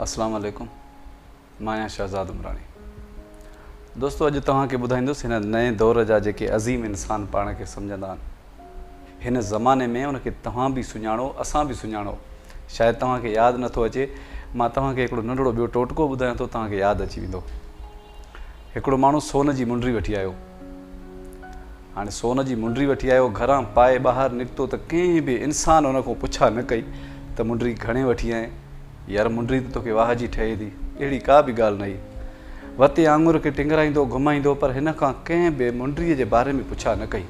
اسلام عليڪم مان آهيان شهزاد عمراڻي دوستو اڄ توهان کي ٻڌائيندس هن نئين دور جا جيڪي عظيم انسان پاڻ کي سمجهندا آهن هن زماني ۾ ان کي توهان به سڃاڻو اسان به سڃاڻو شايد توهان کي ياد نٿو اچي مان توهان کي هڪڙو ننڍڙو ٻيو ٽوٽڪو ٻڌايان ٿو توهان کي ياد اچي ويندو هڪڙو ماڻهو سون جي منڊري وٺي آيو. هاڻي سون جي منڊري وٺي آيو، گهران پائي ٻاهر نڪتو ته ڪنهن به انسان ان کان پڇا نه ڪئي ته منڊري گهڻي وٺي آئين؟ يار منڊري ته توکي واهه جي ٺهي ٿي، اهڙي ڪا به ڳالهه نه هئي. وتي آڱر کي ٽنگرائيندو گهمائيندو پر هن کان ڪنهن به منڊري جي باري ۾ پڇا نه ڪئي.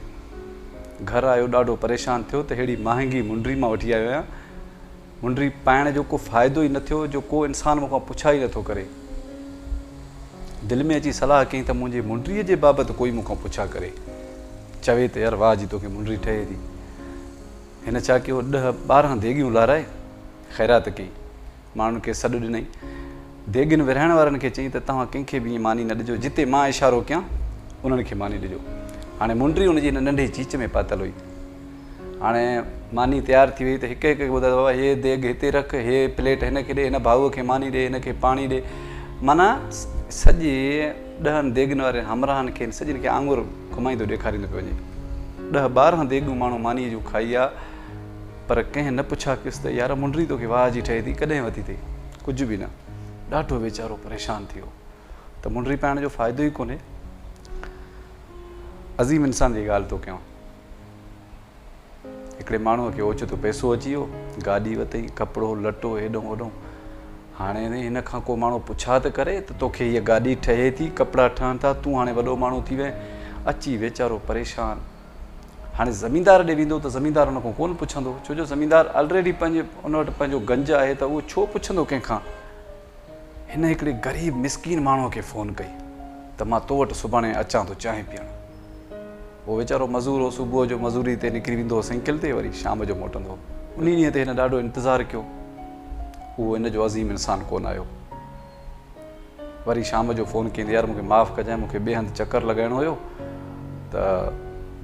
گهر آيو ڏاڍو پريشان ٿيو ته ههڙي مهانگي منڊري مان وٺي آيو آهيان. منڊي پائڻ جو ڪو فائدو ئي نه ٿيو جو ڪو انسان مون کان پڇا ئي نٿو ڪري. دل ۾ اچي صلاح ڪئين ته منهنجي منڊيء جي بابت ڪوئي مون کان پڇا ڪري. چوي ته يار واهه جي توکي منڊي ٺهي ٿي. هن ڇا ڪيو ڏهه ٻارهن ديڳيون لارائي خيرات ڪئي. ماڻهن کي سڏ ڏنائين. ديڳين ورهائڻ وارن کي چئين ته توهان ڪنهن کي به ائين ماني نه ڏجو جتي مان اشارو ڪيان انهن کي ماني ڏجو. هاڻي منڊي ان جي هن ننڍي چيچ ۾ پاتل هئي. هاڻي ماني تيار ٿي وئي ته هڪ هڪ کي ٻڌائي بابا هي ديڳ هتي رک هي پليٽ هن کي ڏي هن ڀائو کي ماني ڏي هن کي پاڻي ڏي معنيٰ سڄي ڏهن ديڳن واري همراهن کي سڄن کي آڱر گهمائيندو ڏيکاريندو پيو وڃي ڏهه ٻارهن ديڳون ماڻهو ماني جون کائي آ پر ڪنهن نه پڇا ڪيس ته يار منڊري توکي واهه جي ٺهي ٿي ڪڏهن وڌي اٿئي ڪجهه به نه ڏاڍو ويچارو پريشان ٿي ويو ته منڊري پائڻ جو فائدو ئي ڪونهي عظيم انسان جي ڳالهه ٿو ڪيان هڪڙي ماڻهوء کي اوچتو پئسو اچي ويو، گاڏي وتئين، ڪپڙو لٽو هيڏهون هوڏهون. هاڻي هن کان ڪو ماڻهو پڇا ته ڪري ته توکي هيء گاڏي ٺهي ٿي، ڪپڙا ٺهن ٿا، تون هاڻي وڏو ماڻهو ٿي وئين. اچي ويچارو پريشان هاڻي زميندار ڏي ويندو ته زميندار هن کان ڪونه پڇندو، ڇو جو زميندار الريڊي پنهنجي ان وٽ پنهنجو گنج آهي ته اهو ڇو پڇندو ڪنهن کان. هن هڪڙي غريب مسڪين ماڻهوء کي فون ڪئي ته مان تو وٽ سڀاڻي اچان ٿو چانهه پيئڻ. اهو ويچارو مزور هو، صبح جو مزوريء تي نڪري ويندو هو سئيڪل تي وري شام جو موٽندو هو. انهيء ڏينهن تي هن ڏاڍو انتظار ڪيو. اهو هن جو عظيم انسان ڪونه آيو. وري شام جو فون ڪيائين ته يار مون کي معاف ڪجانء مون کي ٻئي هنڌ چڪر لڳائڻو هيو ته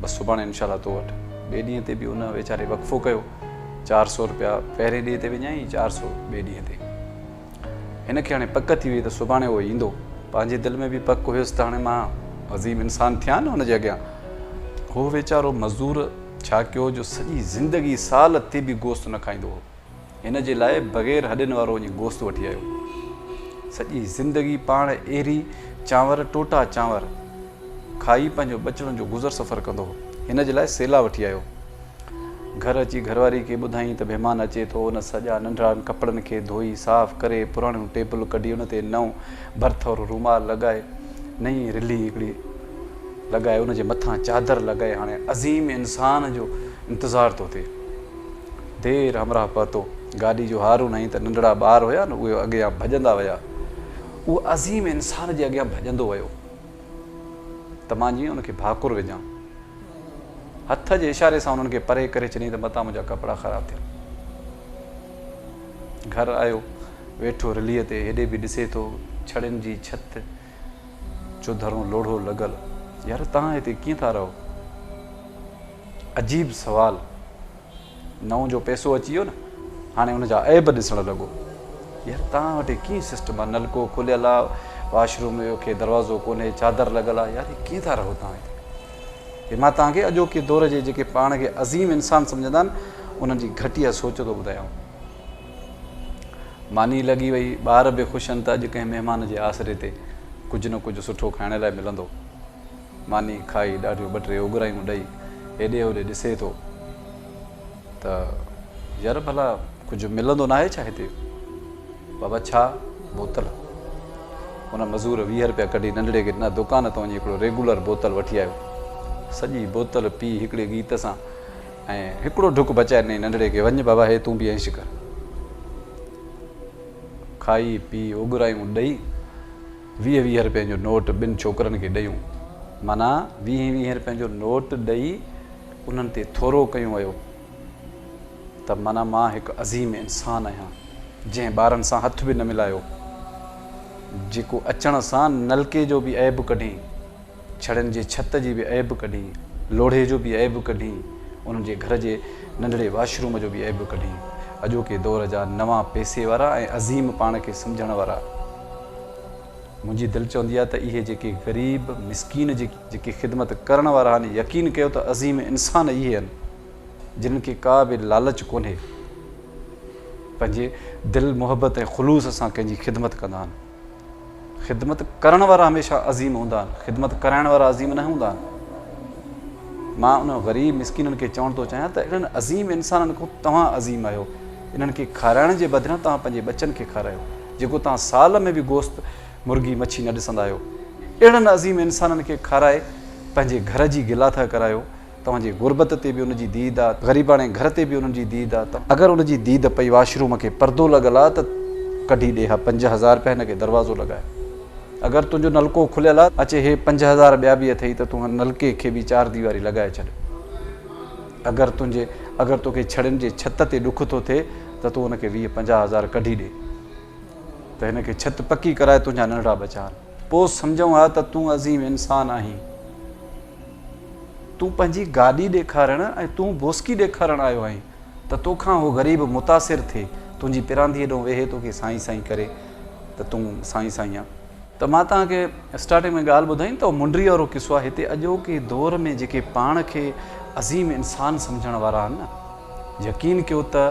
بس سڀاڻي انشاء الله تو وٽ. ٻئي ڏينهن تي به هن ويچاري وقفو ڪيو. چار سؤ روپيا پهرين ڏينهن تي وڃائين ۽ چار سؤ ٻئي ڏينهن تي. هن کي هاڻي پڪ ٿي هئي ته سڀاڻي اهو ايندو. پنهنجي دل ۾ به پڪ هيس ته هاڻي مان عظيم انسان ٿيان نه هن جي اڳيان. هو ويچارو مزدور ڇا ڪيو جو سڄي زندگي سال تي به گوشت نه کائيندو هو. هن جي لاء بغير هڏين وارو وڃي گوشت وٺي آيو. سڄي زندگي پاڻ ايري چانور، ٽوٽا چانور، کائي پنهنجو ٻچڙن جو گذر سفر ڪندو هو. هن جي لاء سيلا وٺي آيو. گهر اچي گهرواري کي ٻڌائين ته مهمان اچي ٿو، هن سڄا ننڍڙا ڪپڙن کي ڌوئي صاف ڪري پراڻيون ٽيبل ڪڍي ان تي نئون برٿ وارو رومال لڳائي نئين رلي هڪڙي لڳائي ان جي مٿان چادر لڳائي هاڻي عظيم انسان جو انتظار ٿو ٿئي. دير همراهه پهتو گاڏي جو هارون هنئي ته ننڍڙا ٻار هيا نه اهي اڳيان ڀڄندا ويا اهو عظيم انسان جي اڳيان ڀڄندو ويو ته مان جيئن ان کي ڀاڪر وجهان. هٿ جي اشاري سان انهن کي پري ڪري ڇڏيائين ته متان منهنجا ڪپڙا خراب ٿيا. گهر آيو، ويٺو رليء تي، هيڏي به ڏسي ٿو، ڇڙين جي ڇت جو ڌرون لوڙهو لڳل. يار، توهان هتي ڪيئن ٿا رهو؟ عجيب سوال! نئون جو پئسو اچي ويو نه هاڻي ان جا عيب ڏسڻ لڳو يار توهان وٽ ڪيئن سسٽم آ نلڪو کليل آ واش روم جو کي دروازو ڪونهي چادر لڳل آ يار ڪيئن ٿا رهو توهان هتي هي مان توهان کي اڄوڪي دور جي جيڪي پاڻ کي عظيم انسان سمجهندا آهن انهن جي گهٽيا سوچ ٿو ٻڌايان ماني لڳي وئي ٻار به خوش آهن ته اڄ ڪنهن مهمان جي آسري تي ڪجهه نه ڪجهه سٺو کائڻ لاء ملندو ماني کائي ڏاڍيون ٻه ٽي اوڳرايون ڏئي هيڏي هوڏي ڏسي ٿو ته يار ڀلا ڪجهه ملندو ناهي ڇا هتي بابا ڇا بوتل ان مزور ويهه رپيا ڪڍي ننڍڙي کي ڏنا دڪان تان وڃي هڪڙو ريگولر بوتل وٺي آيو سڄي بوتل پي هڪڙي گيت سان ۽ هڪڙو ڍڪ بچائي ڏني ننڍڙي کي وڃ بابا هي تون به عيش ڪر کائي پي اوگرايون ڏئي ويهه ويهه رپين جو نوٽ ٻن ڇوڪرن کي ڏيون. معنيٰ ويهه ويهه رپين جو نوٽ ڏئي انهن تي ٿورو ڪيون ويو ته معنيٰ مان هڪ عظيم انسان آهيان جنهن ٻارن سان هٿ به نه ملايو جيڪو اچڻ سان نلڪي جو به عيب ڪڍين. ڇڙين جي ڇت جي به عيب ڪڍين، لوڙهي جو به عيب ڪڍين، انهن جي گهر جي ننڍڙي واش روم جو به عيب ڪڍين. اڄوڪي دور جا نوان پئسي وارا ۽ عظيم پاڻ کي سمجهڻ وارا. منهنجي دل چوندي آهي ته اهي جيڪي غريب، مسڪين جي جيڪي خدمت ڪرڻ وارا آهن، يقين ڪيو ته عظيم انسان اهي آهن، جنهن کي ڪا به لالچ ڪونهي. پنهنجي دل، محبت ۽ خلوص سان ڪنهن جي خدمت ڪندا آهن. خدمت ڪرڻ وارا هميشه عظيم هوندا آهن خدمت ڪرائڻ وارا عظيم نه هوندا آهن مان انهن غريب مسڪينن کي چوڻ ٿو چاهيان ته انهن عظيم انسانن کان توهان عظيم آهيو انهن کي کارائڻ جي بدران توهان پنهنجي ٻچن کي کارايو جيڪو توهان سال ۾ به گوشت مرغي مڇي نه ڏسندا آهيو اهڙن عظيم انسانن کي کارائي پنهنجي گهر جي گلاٿا ڪرايو توهان جي غربت تي به ان جي ديد آ، غريباڻي گهر تي به ان جي ديد آ ته اگر ان جي ديد پئي واش روم کي پردو لڳل آ ته ڪڍي ڏي اها پنج هزار رپيا هن کي دروازو لڳاء اگر تنهنجو نلڪو کليل آ اچي هي پنج هزار ٻيا به اٿئي ته تون هن نلڪي کي به چار ديواري لڳائي ڇڏ اگر تنهنجي اگر توکي ڇڙين جي ڇت تي ڏک ٿو ٿئي ته تون ان کي ويهه پنجاهه هزار ڪڍي ڏي ته هن کي ڇت پڪي ڪرائي تنهنجا ننڍڙا ٻچا آهن پوء سمجهون ها ته تون عظيم انسان آهين. تون پنهنجي گاڏي ڏيکارڻ ۽ تون بوسڪي ڏيکارڻ آيو آهين ته تو کان هو غريب متاثر ٿي تنهنجي پرانديء ڏانهن ويهي توکي سائين سائين ڪري ته تون سائين سائين آ ته مان توهان کي اسٽارٽنگ ۾ ڳالهه ٻڌائين ته اهو منڊري وارو قصو آهي هتي اڄوڪي دور ۾ جيڪي پاڻ کي عظيم انسان سمجهڻ وارا آهن نه يقين ڪيو ته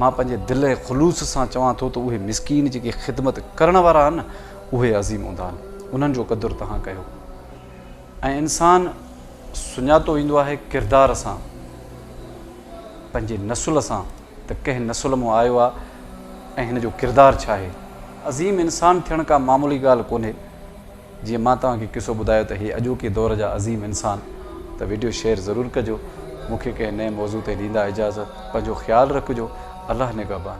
مان پنهنجي دل ۽ خلوص سان چوان ٿو ته اهي مسڪين جيڪي خدمت ڪرڻ وارا آهن اهي عظيم هوندا آهن انهن جو قدر توهان ڪيو ۽ انسان سڃاتو ويندو آهي ڪردار سان پنهنجي نسل سان ته ڪنهن نسل مون آيو آ ۽ هن جو ڪردار ڇا آهي. عظيم انسان ٿيڻ ڪا معمولي ڳالهه ڪونهي جيئن مان توهان کي قصو ٻڌايو ته هي اڄوڪي دور جا عظيم انسان ته ويڊيو شيئر ضرور ڪجو مون کي ڪنهن نئين موضوع تي ڏيندا اجازت پنهنجو خيال رکجو الله نگهبان.